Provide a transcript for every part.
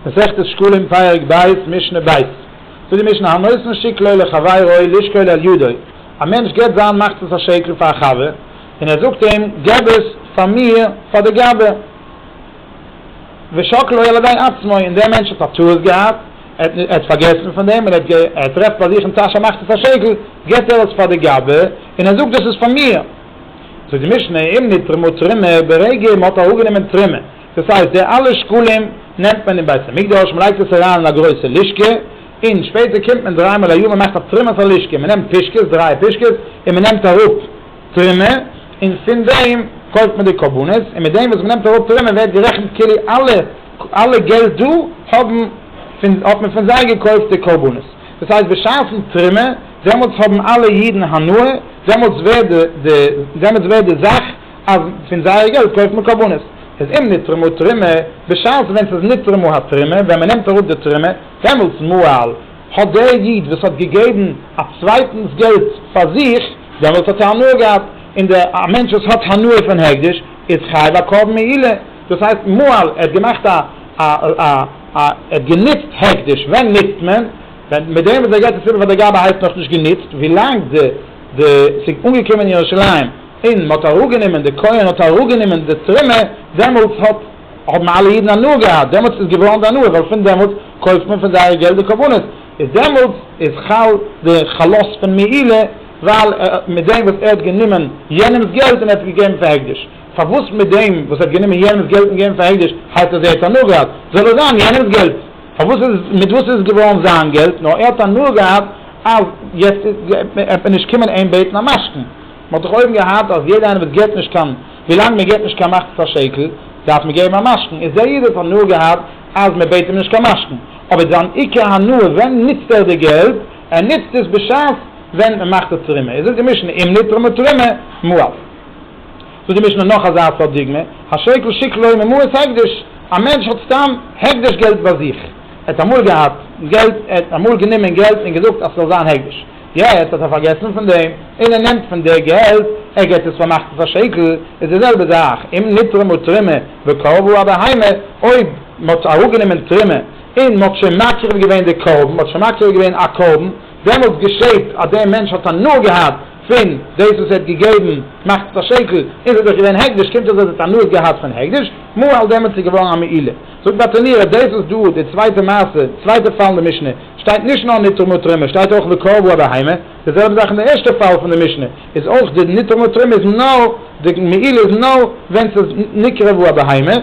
מסכת שקלים פרק ב' משנה ב' זאגט די משנה הנותן שקלו לחבירו לשקול על ידו א מענטש געבט זיין מחצית השקל פאר א חבר און ער זאגט אים געב עס פאר מיר פאר די גאבע ושקלו על ידי עצמו און דער מענטש האט א טעות געהאט ער האט פארגעסן פון דעם און ער טרעפט ביי זיך אין טאש א מחצית השקל געבט ער עס פאר די גאבע און ער זאגט דאס איז פאר מיר זאגט די משנה אם נתרמה תרומה ברגע מען האט אראפגענומען תרומה. דאס הייסט די אלע שקלים נעמט מען אין בית המקדש, מען לייגט עס אריין אין א גרויסע לישקע, און שפעטער קומט מען דריי מאל א יאר מען מאכט א תרומת הלישקע, מען נעמט פישקעס, דריי פישקעס, און מען נעמט אראפ תרומה, און פון דעם קויפט מען די קרבנות, און מיט דעם וואס מען נעמט אראפ תרומה ווערט גערעכנט כאילו אלע אלע געלט דא האבן פון האט מען פון זיי געקויפט די קרבנות, דאס הייסט בשעת'ן תרומה דעמאלטס האבן אלע אידן הנאה, דעמאלטס ווערט די דעמאלטס ווערט די זאך אז פון זייער געלט קויפט מען קרבנות, איז אם נתרמה תרומה, בשעת ווען ס'איז נתרמה התרומה, ווען מ'נעמט אראפ די תרומה, דעמאלטס מוהל האט דער איד וואס האט געגעבן א צווייטנס געלט פאר זיך, דעמאלטס האט ער הנאה געהאט, און דער א מענטש וואס האט הנאה פון הקדש איז חייב א קרבן מעילה, דאס הייסט מוהל ער האט געמאכט א א א א ער האט גענוצט הקדש, ווען נוצט מען? ווען מיט דעם וואס ער געבט עס איבער פאר די גבאי הייסט נאכנישט גענוצט, ווילאנג די די ס'איז אנגעקומען אין ירושלים. און מען האט אראפגענומען, דער כהן האט אראפגענומען די תרומה, דעמאלטס האט, האבן אלע אידן הנאה געהאט, דעמאלטס איז געווארן די הנאה, ווייל פון דעמאלטס קויפט מען פון זייערע געלט די קרבנות, איז דעמאלטס איז חל די חלות פון מעילה, ווייל מיט דעם וואס ער האט גענומען יענעמ'ס געלט און ער האט געגעבן פאר הקדש, פארוואס מיט דעם וואס ער האט גענומען יענעמ'ס געלט און געגעבן פאר הקדש הייסט אז ער האט הנאה געהאט, זאל עס זיין יענעמ'ס געלט, פארוואס איז, מיט וואס איז עס געווארן זיין געלט, נאר ער האט הנאה געהאט אז יעצט וועט מען נישט קומען אים בעטן א משכון. מען האט דאך אויבן געהאט אז יעדע איינער וואס געט נישט קיין, ווילאנג מען געט נישט קיין מחצית השקל, דארף מען געבן א משכון, איז דער איד האט הנאה געהאט אז מען בעט אים נישט קיין משכון, אבער זיין עיקר הנאה ווען נוצט ער די געלט, ער נוצט עס בשעת ווען מען מאכט די תרומה, איז זאגט די משנה אם נתרמה תרומה מועט, זאגט די משנה נאך אזא סארט דוגמא, השקל שקלוי ממעות הקדש, א מענטש האט סתם הקדש געלט ביי זיך, ער האט אמאל געהאט געלט, ער האט אמאל גענומען געלט און געזאגט אז ס'זאל זיין הקדש, יעצט האט ער פארגעסן פון דעם און ער נעמט פון די געלט ער געט עס פאר מאכט עס א שקל איז די זעלבע זאך אם נתרמה תרומה וקרבו א בהמה אויב מען האט אראפגענומען תרומה און מען האט שוין מקריב געווען די קרבן מען האט שוין מקריב געווען א קרבן דעמאלטס געשעט אז די מענטש האט הנאה געהאט פון דאס וואס ער האט געגעבן מאכט עס א שקל און עס איז דאך געווען הקדש קומט אויס אז ער האט הנאה געהאט פון הקדש מאהל דעמאלטס איז געווארן א מעילה זאגט בה תנירא דאס איז דא די צווייטע מעשה צווייטע פאל אין די משנה. שטייט נישט נאר נתרום ותרומה, שטייט אויך וקרב הוא הבהמה, די זעלבע זאך אין די ערשטע פאל פון די משנה, איז אויך די נתרום ותרומה איז נאר, די מעילה איז נאר ווען ס'איז נקרב הוא הבהמה,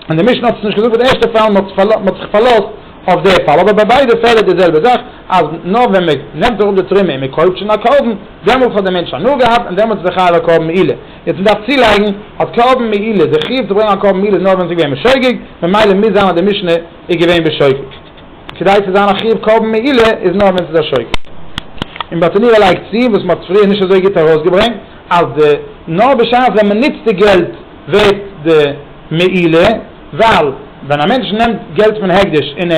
און די משנה האט עס נישט געזאגט ביי די ערשטע פאל, מ'האט זיך פארלאזט אויף די פאל, אבער ביי ביידע פעלער איז די זעלבע זאך, אז נאר ווען מען נעמט אראפ די תרומה און מען קויפט שוין א קרבן, דעמאלטס האט די מענטש הנאה געהאט און דעמאלטס איז ער חייב א קרבן מעילה, יעצט מען דארף צולייגן, האט קרבן מעילה, די חיוב צו ברענגען א קרבן מעילה איז נאר ווען ס'איז געווען בשוגג, ממילא מוז זיין אז די משנה איז געווען בשוגג. כדי צו זיין א חיוב קרבן מעילה איז נאר ווען ס'איז א שוקת. און באטענירא לייגט צו, וואס מ'האט פריער נישט אזוי גוט ארויסגעברענגט, אז די נאר בשעת ווען מ'נוצט די געלט ווערט די מעילה, ווייל ווען א מענטש נעמט געלט פון הקדש און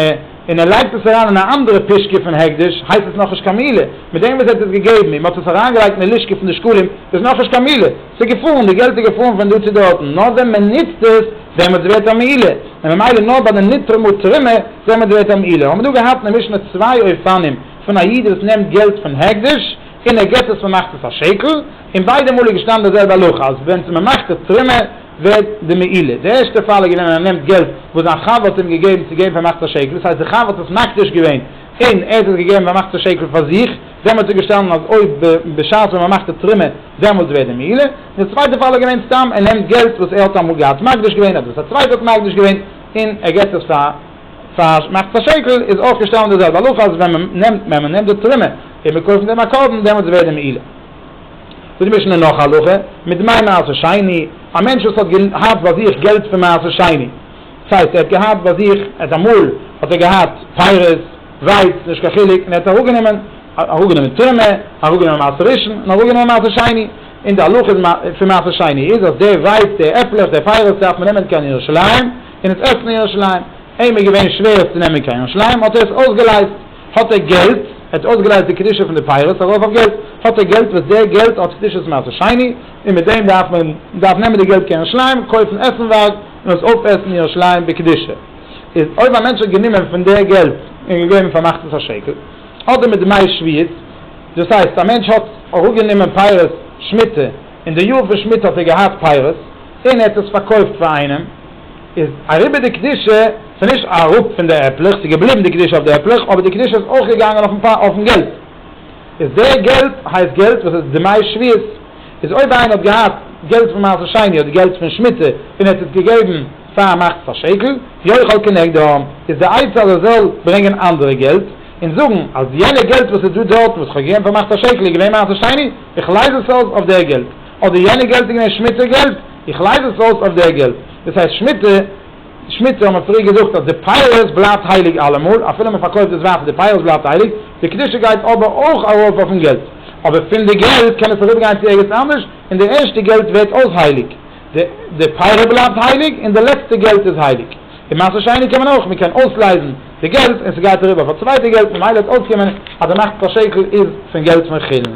און ער לייגט עס אריין אין א אנדערע פישקע פון הקדש הייסט עס נאכנישט קיין מעילה, מיט דעם וואס ער האט עס געגעבן און מ'האט עס אריינגעלייגט אין די לשכה פון די שקלים איז נאכנישט קיין מעילה. ס'איז געפאלן, די געלט איז געפאלן פון דא צו דארטן, נאר ווען מען נוצט עס, דעמאלטס ווערט א מעילה, און ממילא נאר ביי די נטרום ותרומה, דעמאלטס ווערט א מעילה. האבן מיר דא געהאט אין די משנה צוויי אופנים פון א איד וואס נעמט געלט פון הקדש, און ער געבט עס ממחצית השקל, און ביידע מאל איז געשטאנען די זעלבע הלכה, אז ווען ס'איז ממחצית תרומה ווערט די מעילה. די ערשטע פאל איז געווען ווען ער נעמט געלט וואס זיין חבר האט אים געגעבן צו געבן פאר מחצית השקל, דאס הייסט די חבר האט עס מקדיש געווען, אין ער האט עס געגעבן ווען מאכט עס א שקל פאר זיך, דעמאלטס האט ער געשטאנען אז אויב בשעת ווען מען מאכט די תרומה דעמאלטס ווערט די מעילה, און די צווייטע פאל איז געווען סתם ער נעמט געלט וואס ער האט אמאל געהאט מקדיש געווען אדער וואס א צווייטער האט מקדיש געווען און ער געבט עס פאר פאר מאכט עס א שקל איז אויך געשטאנען די זעלבע הלכה אז ווען מען נעמט ווען מען נעמט די תרומה און מען קויפט מיט דעם א קרבן דעמאלטס ווערט די מעילה. זאגט די משנה נאך א הלכה, מדמי מעשר שני, א מענטש וואס האט געהאט ביי זיך געלט פון מעשר שני, ס'הייסט ער האט געהאט ביי זיך, ער האט אמאל האט ער געהאט פיירות, ווייץ, נישט קיין חילוק, און ער האט אראפגענומען, אראפגענומען תרומה, אראפגענומען מעשר ראשון, און אראפגענומען מעשר שני, און די הלכה איז פון מעשר שני איז אז די ווייץ, די עפלעך, די פיירות דארף מען נעמען קיין ירושלים, און עס עסן אין ירושלים, אים איז געווען שווער עס צו נעמען קיין ירושלים, האט ער עס אויסגעלייזט, האט ער געלט, ער האט אויסגעלייזט די קדושה פון די פיירות ארויף אויף געלט, האט ער געלט וואס די געלט האט קדושת מעשר שני, און מיט דעם דארף מען, מען דארף נעמען די געלט קיין ירושלים, קויפן עסנווארג, און עס אויפעסן ירושלים בקדושה, איז אויב א מענטש האט גענומען פון די געלט און געגעבן פאר מחצית השקל, אדער מיט דמי שביעית, דאס הייסט א מענטש האט אראפגענומען פירות שמיטה, און די יאר פון שמיטה האט ער געהאט פירות, און ער האט עס פארקויפט פאר איינעם, איז אריבער די קדושה, ס'איז נישט אראפ פון די עפלעך, ס'איז געבליבן די קדושה אויף די עפלעך, אבער די קדושה איז אויך געגאנגען אויפן געלט, איז די געלט הייסט געלט וואס איז דמי שביעית. איז אויב איינער האט געהאט געלט פון מעשה שני אדער געלט פון שמיטה און ער האט עס געגעבן פאר א מחצית א שקל, יאכל כנגדם, איז די עצה אז ער זאל ברענגען אנדערע געלט און זאגן אז יענע געלט וואס איז דא דארטן וואס איך האב געגעבן פאר מחצית א שקל איז געווען מעשה שני, איך לייז עס אויס אויף דער געלט, אדער יענע געלט איז געווען שמיטה געלט, איך לייז עס אויס אויף דער געלט, דאס הייסט שמיטה. די שמיטה האבן פריער געזאגט אז די פייערס בלייבט הייליג אלעמאל, אפילו מען פארקויפט דאס ווייטער די פייערס בלייבט הייליג, די קדושה גייט אבער אויך ארויף אויפן געלט, אבער פון די געלט קען עס אריבערגיין צו ערגעץ אנדערש, און די ערשטע געלט ווערט אויך הייליג, די פייער בלייבט הייליג, און די לעצטע געלט איז הייליג. און מעשה שני קען מען אויך, מען קען אויסלייזן די געלט און ס'גייט אריבער אויף א צווייטע געלט ממילא וועט אויסקומען אז די נחת השקל איז פון געלט פון חילול.